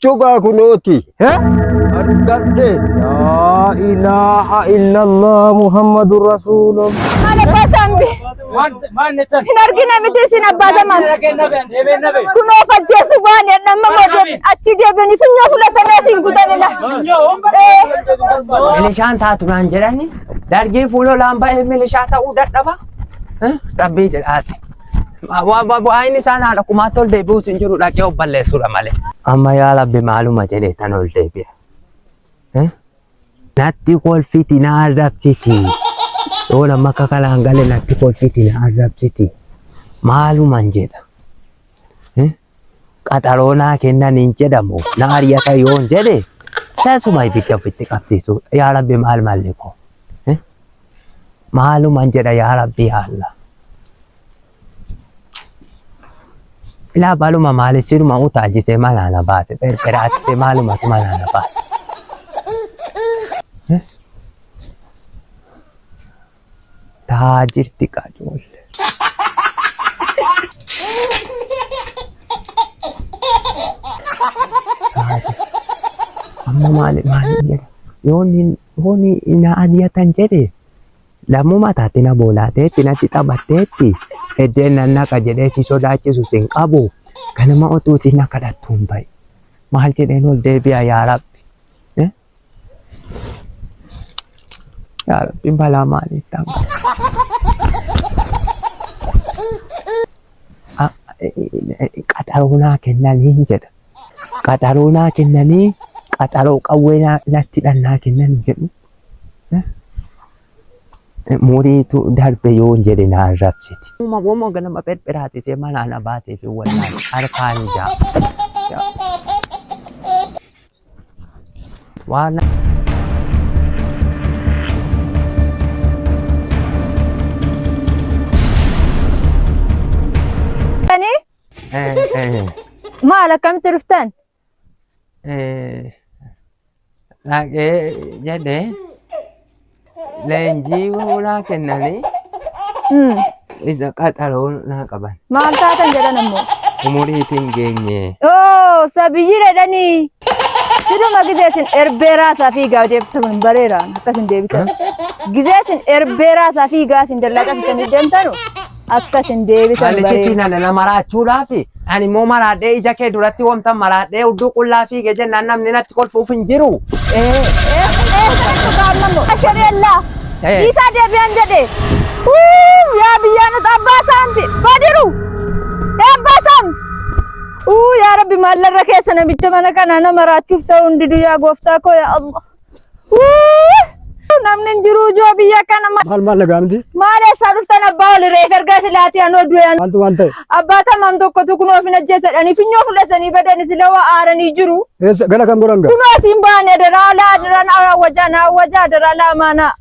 Cugaa kunooti. Hee? Argadhe. Laa ilaaha illallah Muhammadu Rasuulullah. Maal abbaa saambi? Hin argine miti isin abbaa zaman. Kunoo fajjeessu waan jedhamma moote achi deebiin finyoo fudhatanii asiin gutanidha. Milishaan taatu naan jedhani dargii fuulolaan ba'ee milishaa ta'uu dadhaba. Rabbii jedhaati. Waa'een isaan haadha kumaatti ol deebi'uus hin jiru dhaqee of balleessuudha malee. Amma yaa labbi maaluma jedhee tan ol deebi'a. Eh? Natti kolfiti na arrabsiti. Yoo nama akka kalaan gale natti kolfiti na arrabsiti. Maaluman jedha. Eh? qaxaroo naa kennan hin jedhamu na ari'ata yoon jedhe tasuma ibidda ofitti qabsiisu yaa rabbi maal malli koo Eh? maaluman jedha yaa rabbi yaa allah ilaa baluma maali siruma utaajise manaa na baase pherpheraatise maalumatu manaa na baase Taa jirti kaa joolle. Amma maali maali jedha. Yooni yooni na aliyatan jedhe lammuma taate na boolaateetti natti taphatteetti eddeen nan naqa jedhee si sodaachisu sin qabu kanuma otuu si na kadhattuun ba'i. Maal jedheen ol deebi'a yaa rabbi. Yaa Rabbi balaa maalii ta'an qaxaroo naa kennanii hin jedha. Qaxaroo naa kennanii qaxaroo qawwee naa- natti dhan naa kennan hin jedhu. Muriitu darbe yoo hin jedhe naa rabsiti. Uma gomoo ganama pherpheraati ta'e manaa na baatee fi wallaahi harkaan ijaa. Waan Tanii maal akkamitti dhuftan? dhaqee jedhee leenjii hoolaa kennanii Hmm. isa qaxaroo naa qaban. Maal taatan jedhan ammoo. Umuriitiin geenye. Oo sabiyyii jedhanii. Siduma gizee isin erbeeraa isaa fiigaa deebita kun bareera akkas hin deebitan. Gizee isin erbeeraa isaa fiigaa isin dallaa qabitanii deemtanu. akka isin deebitan Malitti baree. tiinana na maraachuudhaaf ani immoo maraadhee ija kee duratti wanta maraadhee udduu qullaa fiige jennaan namni natti kolfuuf hin jiru. Ashadella. Eh. Isa deebi'an jedhe. Uu yaa biyyaa nuti abbaa saambi badiru. Yaa abbaa saambi. Uu yaa rabbi maallarra keessa namicha mana kanaa nama raachuuf ta'uu hin didu yaa gooftaa koo yaa Allah. Namni hin jiru ijoo biyya kana ma- Maal maal nagaa miti? maal eessaa dhuftan abbaa ol reef ergaa silaatii anoo du'an. Maaltu maal ta'e? Abbaa tamam tokkotu kunoo ofin ajjeesadhanii finyoo fudhatanii badanii sila waa aaranii jiru. Eessa gara kan godhan gaa? Kunoo asiin baane daraa laa daraa naa wajaa naa wajaa daraa laa maanaa.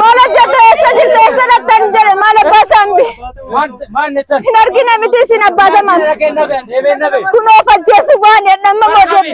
Maal hojjette eessa jirte eessa dhaqxan jedhe maal abbaa saambi. Hin argine miti isin abbaa samaan. Kun of ajjeesu baane dhamma mootii.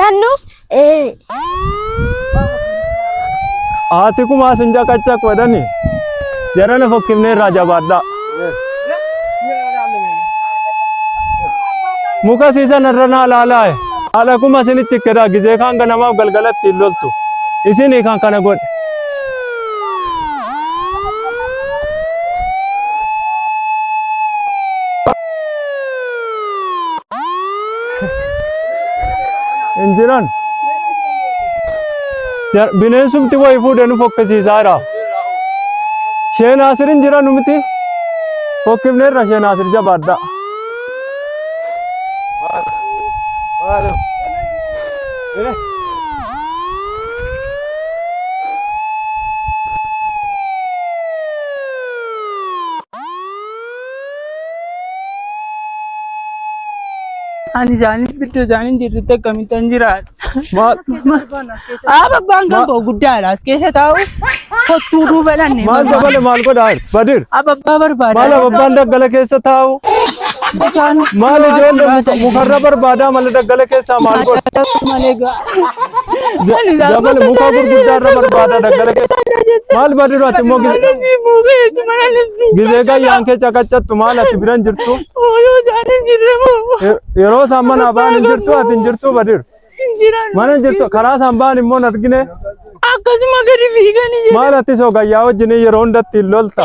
Nannu ee. Haati kumaa sin caqacaq wadhani. Jarana fokkifnee irraa jabaadhaa. Muka siisan irra naa laalaaye. Haadha kuma isinitti ikkedhaa gizee kaan ganamaaf galgalatti hin loltu. Isinii kan kana godhe. Hin jiran. Jar- Bineensumti wayi fuudhee nu fokkisiisaa jira. Shee Naasir hin jiran miti. Fokkifneerra Shee Naasir jabaadha. Ani isaaniif gidduu isaanii jirrutti akkamittan jiraadha. Maal? Aaba abbaan kan koo guddaadha. As keessa taa'u kottuu nuu balanne. Maal dabale maal godhaa jirtu? Badir. Aaba abbaa barbaada. Maal abbaan daggala keessa taa'u? Maal ijoollee mukarra barbaadaa malee daggala keessaa maal godha? Malee gaa. Ani isaa Jabal gosa muka isaanii gurguddaa irra gosa barbaada gosa daggala keessa. gosa jette. Maal badii duraa immoo Mana gizee si buufee jechuun mana si buufee. gizee gayyaan kee caqacattu maal ati biran jirtu Ooyoo isaanii jirre moo. Ye- yeroo isaan manaa ba'an hin jirtu ati hin jirtu badir Hin jiran. mana hin jirtu karaa isaan ba'an immoo hin argine Akkasuma gadi fiiganii jedhu. maal ati soo gayyaa wajjin yeroo hundatti hin lolta.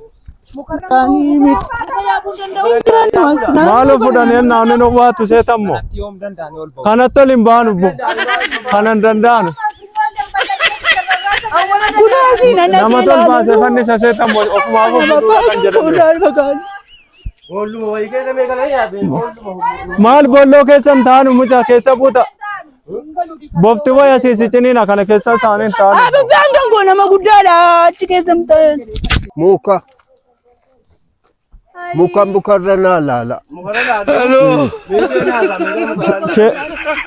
Muktaanii miti. Maaloo fudhanii ennaa onni nowwaatu seetammoo. Kanatti ol hin baanu bo. Kana hin danda'anu. Kunaasii nan Nama dhagee tol baasee laalu. fannisa seetammoo ofumaa Ana ofumaa babbaa kan jedhamu. fuudhaan bagaan. Maal bolloo keessan taanu mucaa keessa buuta. Bofti waya siisiciniin akkana keessa isaaniin ta'an. Abibbaan kan koo nama guddaadha achi keessa hin ta'e. Muka. Muka mukarra naa laala.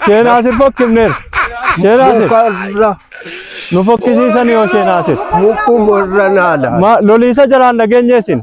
Sheenaa asir fokkifneera. Sheenaa asir Mukarra nu fokkisiisanii yoo sheenaa asir. mukumarra naa laala. Ma loliisa jalaan dhageenye isin.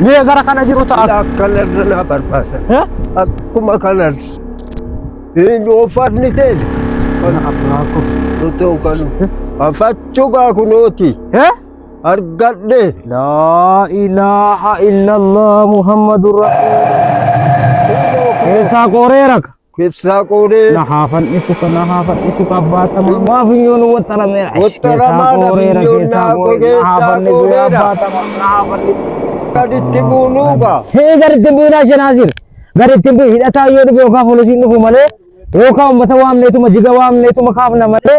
Mi'a gara kana jiru ta'a. Ila akkanarra naa barbaada. Eh? Akkuma kanarra. Hin ooffatni seena. Kana abbaa koo. Sotoo kanu. Afachuu gaa kunooti. Eh? Argadhe. Laa ilaaha illallah Muhammadun Rasul. Keessaa qooree raka. Keessaa qooree. Na haa fannisu ka na haa fannisu ka abbaa tamaa. Waa funyoon waxxarameera. Waxxaramaadha funyoon naa qogee saa qooreera. Gaditti buunuuka. Hee gaditti buunaa shenaazir. Gaditti buun hidhataa yoo dhufe yookaan poolisiin dhufu malee yookaan uummata waamneetuma jiga waamneetuma kaafna malee.